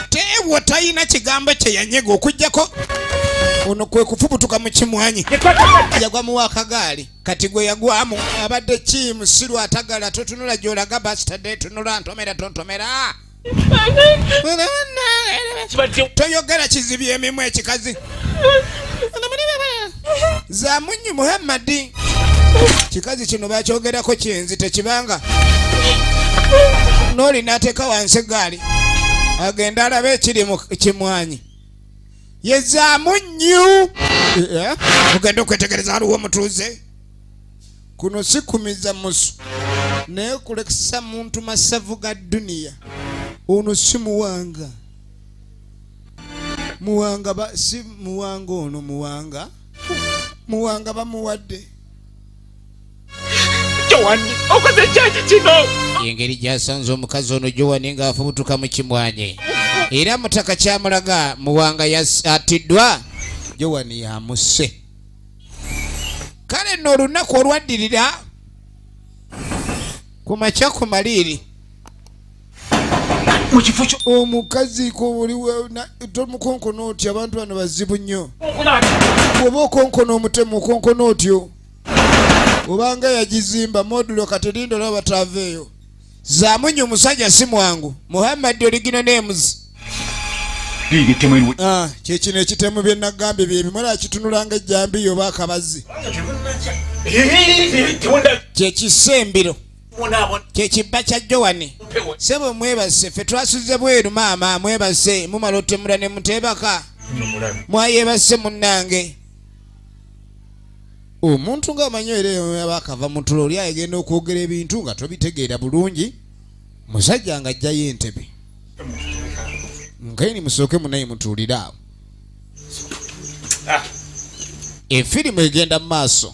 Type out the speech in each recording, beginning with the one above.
tewo talina kigambo kye yanyega okujjako ono kwe kufubutuka mu kimwanyi yagwa muwa akagaali kati gwe yagwamu abadde ki musiru atagala totunula gyolaga bastade tunula ntomera tontomera toyogera kizibya emimu ekikazi zamunyi muhammadi kikazi kino bakyogerako kyenzi tekibanga noli nateeka wansi gaali agenda alaba ekiri kimwanyi yezaamu nnyu ogenda okwetegereza aliwo omutuuze kuno sikumiza musu naye kulekesa muntu masavu ga duniya ono simuwanga muwanga ba, si muwanga ono muwanga muwanga bamuwadde jowani okoze kyaki kino engeri gyasanze omukazi ono jowani ng'afubutuka mu kimwanyi era mutaka kyamulaga muwanga atiddwa jowani yamusse kale nno olunaku olwaddirira ku makya ku maliiri omukazi tomukonkona otyo abantu bano bazibu nnyo oba okonkona omutemu okonkona otyo obanga yagizimba modulo katerinda olaba bataaveeyo zamunyi omusajja si mwangu muhammadi oligino nemuzi ah, kyekino ekitemu byenagambye byebimala akitunulanga ejjambiyo oba akabazi kyekisembiro kyekibba kya jowani sebo mwebase fe twasuze bweru maama mwebase mumala otemula ne muteebaka mwayebase munnange omuntu ngaamanyi eraba akava mutulo oli ayegenda okwogera ebintu nga tobitegeera bulungi musajja nga ajjayo entebe nkaini musooke munaye mutuulire awo ah. efirimu egenda mu maaso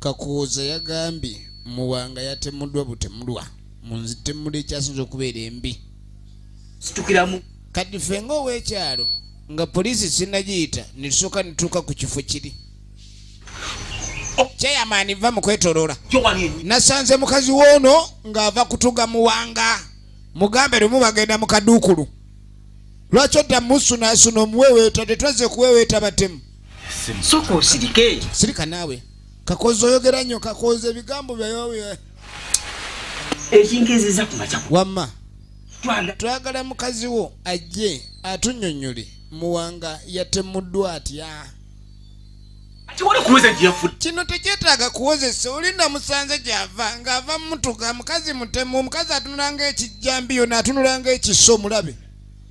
kakuuza yagambye muwanga yatemuddwa butemulwa munzitemula ekyasinza okubeera embi situkiramu kati ffe nga ow'ekyalo nga poliisi sinagiyita netusooka netuuka ku kifo kiri kyeyamaani va mukwetolola nasanze mukazi woono ng'ava kutuga muwanga mugambe lumu bagenda mu kaduukulu lwaki odda musunaasuna omuweweeta tetwazze kuweweeta batemu soka osirike sirika naawe kakozi oyogera nnyo kakozi ebigambo byayowe ekingeziza kumaca wamma twagala mukazi wo ajje atunyonyole muwanga yatemuddwa atya kino tekyetaaga kuwozesa oli namusanze gyava ng'ava mutuga mukazi mutemu omukazi atunulanga ekijjambiyo naatunulanga ekiso mulabe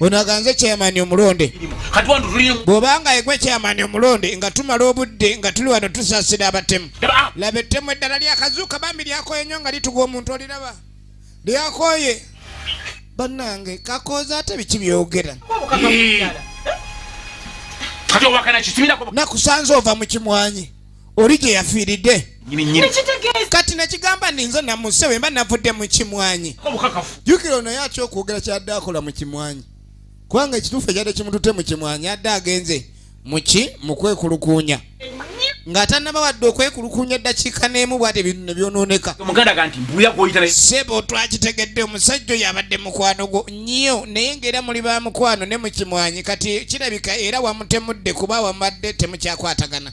ono aganze chairman omulonde bwobanga egwe chairman omulonde nga tumala obudde nga tuli wano tusasira abatemu laba ettemu eddala lyakazuuka bambi lyakoye nyo nga litugwa omuntu oliraba lyakoye banange kakooza ate biki byogera nakusanze ova mukimwanyi oli gye yafiiridde kati nakigamba ninze namuse wemba navudde mu kimwanyi jukira onaye atya okwogera kyadde akola mu kimwanyi kubanga ekituufu ekyadde kimutute mu kimwanyi adde agenze muki mukwekulukuunya ng'atannaba wadde okwekulukunya eddakiika n'emu bwate bintu ne byonooneka sebo twakitegedde omusajja oyo abadde mukwano gwo nnyo naye ng'era muli ba mukwano ne mukimwanyi kati kirabika era wamutemudde kuba wamubadde temukyakwatagana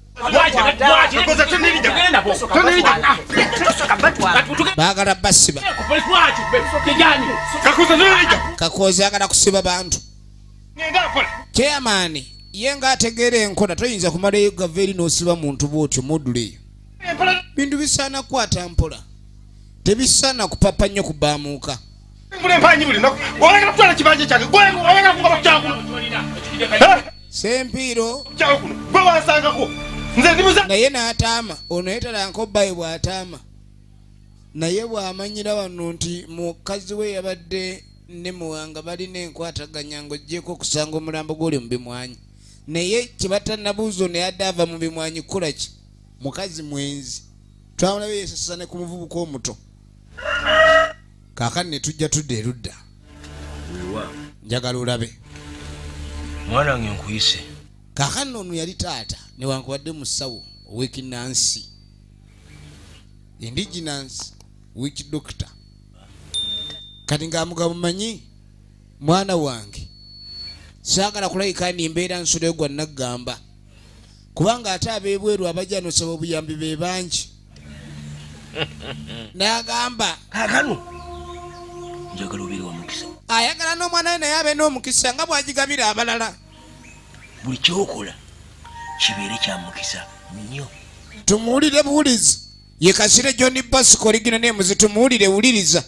bagala basiba kakoozi agala kusiba bantu chairman ye nga ategeera enkola toyinza kumala eyo gava eri n'osiba muntu bwotyo moduleyo bintu bisaana kukwata mpola tebisaana kupapa nnyo kubaamuuka sempiiro naye n'ataama ono yetalanko bbayi bw'ataama naye bw'amanyira wano nti mukazi we yabadde ne muwanga balina enkwataganya ng'ogyeko okusanga omulambo gw'oli mu bimwanyi naye kyebatanabuuzo naye adde ava mu bimwanyi kukola ki mukazi mwenzi twamulabe yesasane ku muvubuka omuto kaakani ne tujja tudda erudda njagala olabe mwana wange nkuyise kaakani ono yali taata newankubadde musawo owekinansi indigenance wich doctor kati ng'amugabo manyi mwana wange saagala kulabika ndi mbeera nsuleyo gwa naggamba kubanga ate abebweru abajja nosaba obuyambi be bangi nagamba kakano njagala obeere wa mukisa ayagala n'omwana we naye abe n'omukisa nga bwagigabira abalala buli kyokola kibeere kya mukisa nnyo tumuwulire buwulizi ye kasire john basic oligina naye muzitumuwulire wuliriza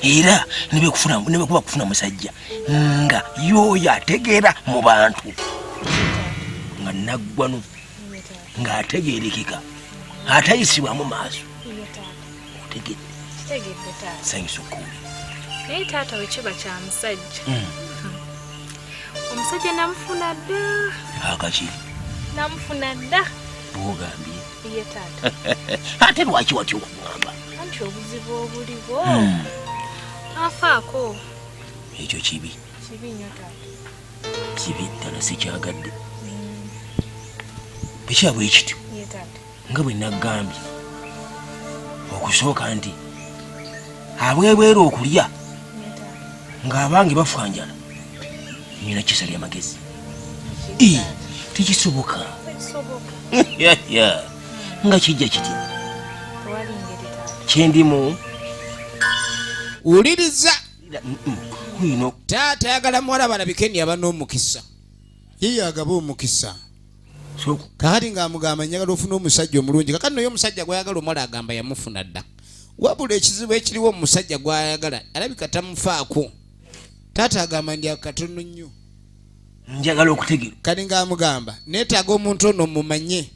era nebwekuba kufuna musajja nga yoyo ategeera mu bantu nga naggwanu ng'ategeerekeka atayisibwamu maaso otegedde kitegedde taata sanyusa okuwulira naye taata wekiba kya musajja hmm. omusajja namufuna dda akaki namufuna dda bwogambye ye taata ate lwaki watya okugamba anti obuzibu obuliwo hmm. afaako ekyo kibi kibi nyo taata kibi ddala sikyagadde hmm. bwekyabwe ekityo ye taata nga bwe naggambye okusooka nti abwebweru okulya ng'abange bafanjala nyina kisa lya magezi tekisoboka nga kijja kiti kyendimu wuliriza taata yagala muwala balabike ni aba n'omukisa ye yagaba omukisa kakati ng'amugamba njagala ofuna omusajja omulungi kakati naye omusajja gwayagala omuwala agamba yamufuna dda wabula ekizibu ekiriwo omusajja gwayagala alabika tamufaako taata agamba ndi akatono nnyo njagala okutegera kati ng'amugamba neetaaga omuntu ono mumanye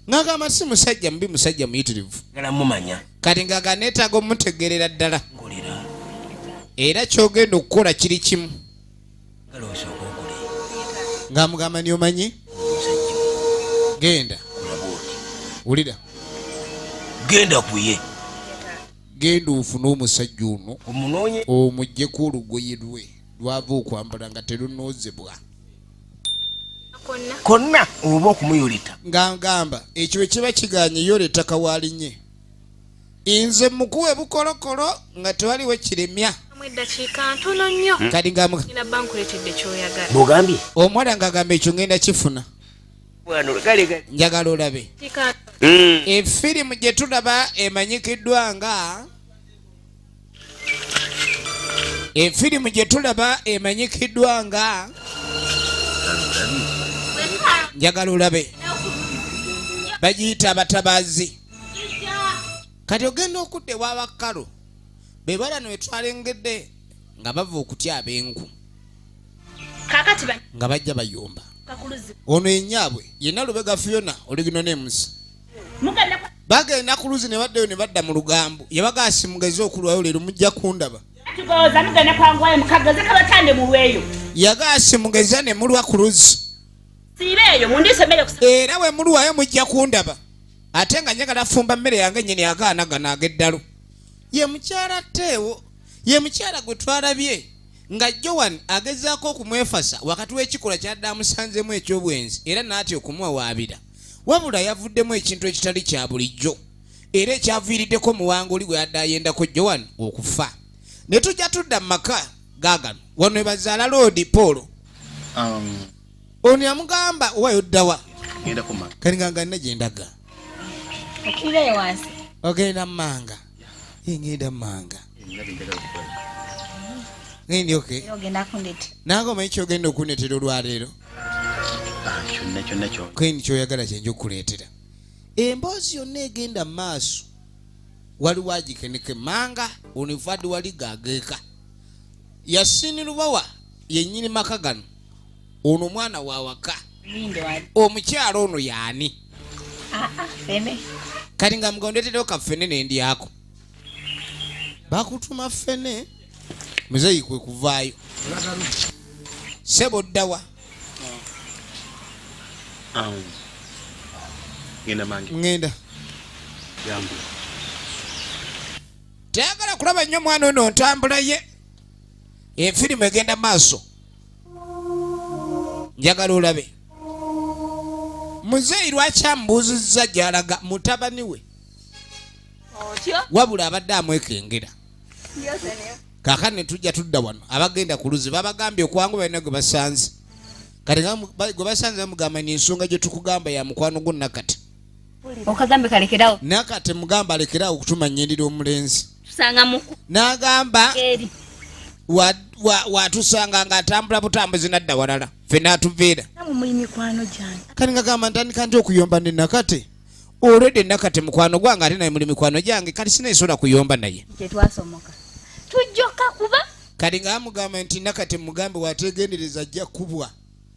ng'agamba si musajja mubi musajja muyitirivu mumanya kati ng'aga neetaaga omutegeerera ddala era kyogenda okukola kiri kimu ng'amugamba ni omanyi genda wulira genda kuye genda ofune omusajja ono omugyeko olugoye lwe lwava okwambala nga terunoozebwa konna oba okumuyoleta ng'agamba ekyo bwe kiba kiganye yoleta kawalinye inze mukuwa ebukolokolo nga tewaliwo kiremya kalingamugambye omuwala nga agamba ekyo ngenda kifuna njagala olabe efirimu hmm. gyetulaba emanyikiddwa nga efirimu gye tulaba emanyikiddwa nga njagala olabe bagiyita abatabazi kati ogenda okudda ewabakkalu be bala nwetwalengedde nga bava okutya ab'enku nga bajja bayumba ono enyaabwe yenna lubega fiona oligino nemusi bagenda ku luzi ne baddayo ne badda mu lugambo yabaga asimugeze okulwayo leero mujja kundaba yagaasi mugeza ne mulwa ku luzi era we mulwayo mujja kundaba ate nga njagala fumba mmere yange nyini agaana gano ag'eddalu ye mukyala teewo ye mukyala gwe twalabye nga joan agezaako okumwefasa wakati w'ekikolwa kyadde amusanzemu eky'obwenzi era n'atya okumuwawaabira wabula yavuddemu ekintu ekitali kya bulijjo era ekyaviiriddeko muwanguli gwe yadde ayendako joan okufa ne tujja tudda mu maka gaagano wano ebazaala loodi paul um, ono yamugamba owayo ddawa kalinga nga nina gyendaga okirirayo wansi ogenda mumanga yengenda manga ngendi oke nange omanyi kyogenda okunetera olwaleero ah, kendi kyoyagala kyenja okukuleetera emboozi yonna egenda maaso waliwo agikeneke manga onivadi wali gageeka yasini lubawa yenyini maka gano ono mwana wa waka omukyala ono yaani ah, ah, kati nga mugondeterewo kafene nendyako bakutuma fene muzeyi kwe kuvaayo sebo ddawa ngenda tayagala kulaba nnyo mwana ono ntambula ye efirimu egenda maaso njagala olabe muzeeyi lwaki amubuuzizza gyalaga mutabani we wabula abadde amwekengera kaka netujja tudda wano abagenda ku luzi babagambye okwangu balina gwe basanze kati gwe basanze bamugamba ni ensonga gye tukugamba ya mukwano gwo nakati okagambe kalekerawo nakati mugamba alekerawo okutuma nyirira omulenzi nagamba watusanga nga atambula butambuzi nadda walala fe natuviira kani ngagamba ntandika nti okuyomba ne nakati olwedde nakati mukwano gwange ate naye muli mikwano gyange kati sinayisobola kuyomba naye kati ngamugamba nti nakati mugambe wategendereza ajja kubwa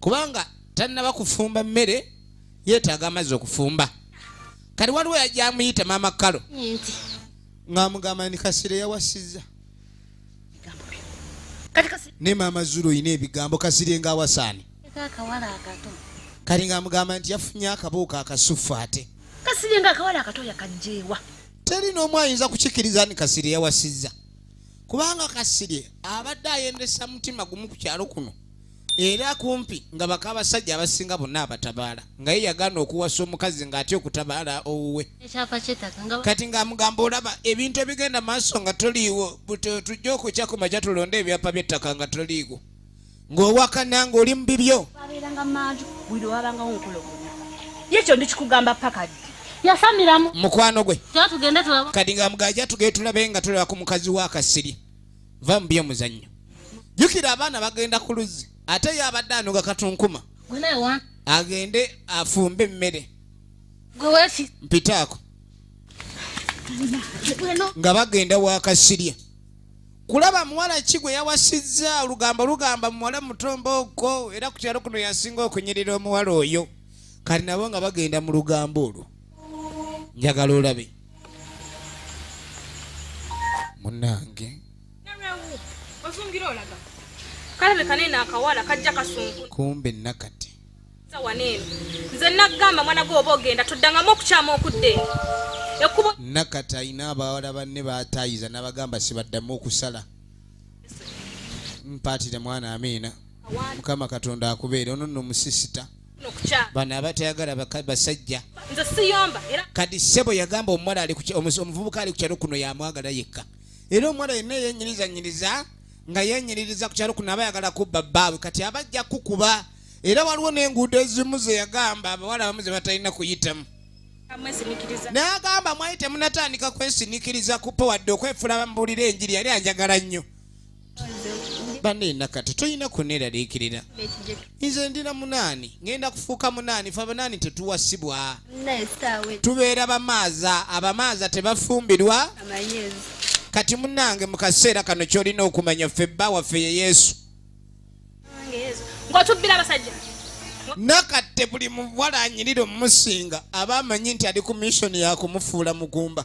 kubanga tannaba kufumba mmere yeetaaga amazzi okufumba kati waliwo yajja amuyita maama kalo ng'amugamba ni kasira yawasizza ne maama zulu olina ebigambo kasire ng'awasaani kati ng'amugamba nti yafunye akabuuka akasuffu ate kasire ng'akawala akato yakajjeewa teri n'omu ayinza kukikiriza ni kasire yawasizza kubanga kasirye abadde ayendesa mutima gumu ku kyalo kuno era kumpi nga baka abasajja abasinga bonna abatabaala nga ye yagaana okuwasa omukazi ng'atya okutabaala owuwe kati ng'amugamba olaba ebintu ebigenda maaso nga toliiwo tujja okukya ku makya tulonde ebyapa by'ettaka nga toliiwo ng'owakana ng'oli mu bibyo yekyo ndikikugamba paka ddi yasamiramu mukwano gwe kati ng'amugajja tugee tulabe nga tulaba ku mukazi w'akasiri va mu by'omuzannyo jukira abaana bagenda ku luzzi ate ye abadde anoga katunkuma agende afumbe emmere mpitaako nga bagenda wakasirya kulaba muwala ki gwe yawasizza olugambo lugamba muwala mutombo okwo era ku kyalo kuno yasinga okunyirira omuwala oyo kati nabo nga bagenda mu lugambo olwo njagala olabe munange kumbe nakati nze nagamba mwana gwe oba ogenda toddangamu okukyama okudde nakati alina abawala banne batayiza nabagamba sibaddamu okusala mpaatire mwana amiina mukama katonda akubeere ono no musisita bano abatayagala basajja kati sebo yagamba omuwala omuvubuka ali kukyalo kuno yamwagala yekka era omuwala yenna yenyiriza nga yenyiririza kukyalo kuno aba yagala kubba bbaawe kati abajja kukuba era waliwo n'enguudo ezimu zeyagamba abawala abamu ze batalina kuyitamu n'agamba mwali temunatandika kwesinikiriza kupa wadde okwefula bambuulira enjiri yali anjagala nnyo banne nakati tulina kuneraliikirira nze ndina munaani ngenda kufuuka munaani fe abanaani tetuwasibwa tubeera bamaaza abamaaza tebafumbirwa kati munange mu kaseera kano kyolina okumanya ffe bba waffe ye yesu nakatte buli muwala anyirira omumusinga aba amanyi nti ali ku missoni yakumufuula mugumba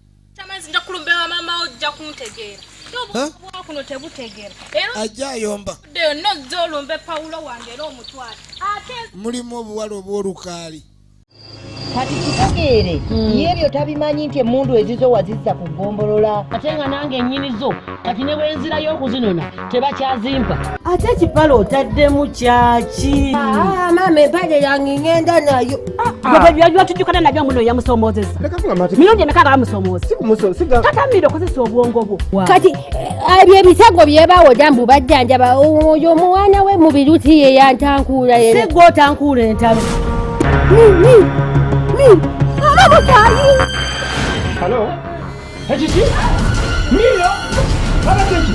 Tamazi nja kulumbe wa mama ojja kuntegeera. Obwa kuno tebutegeera. Era ajja ayomba. Deo no zolumbe Paulo wange era omutwala. Ate mulimu obuwala obw'olukaali. kati kitegeere hmm. yebyo tabimanyi nti emundu ezizo wazizza ku gombolola ate nga nange enyini zo kati ne bwe nzirayo okuzinona tebakyazimpa ate ekipala otaddemu kyaki ah, maama empale yange ngenda nayo ah, ah. byatujukana nabyo muno yamusomoozesa mirundi emeka nga bamusomoozatatamira okozesa obwongo bwo kati eh, ebyo ebisago byebawoda mbu bajjanjaba oyo omwana we mubiruti ye yantankuula yena sigwe otankuula entalo Hello? Ekiki? Mira! Abateki!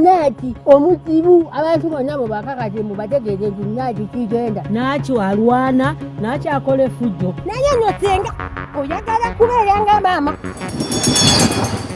Naaki omuzibu abantu bonna bwe bakakati mu bategeeze nti naaki kigenda. Naaki alwana, naaki akola efujjo. Naye no senga oyagala kubeera nga maama.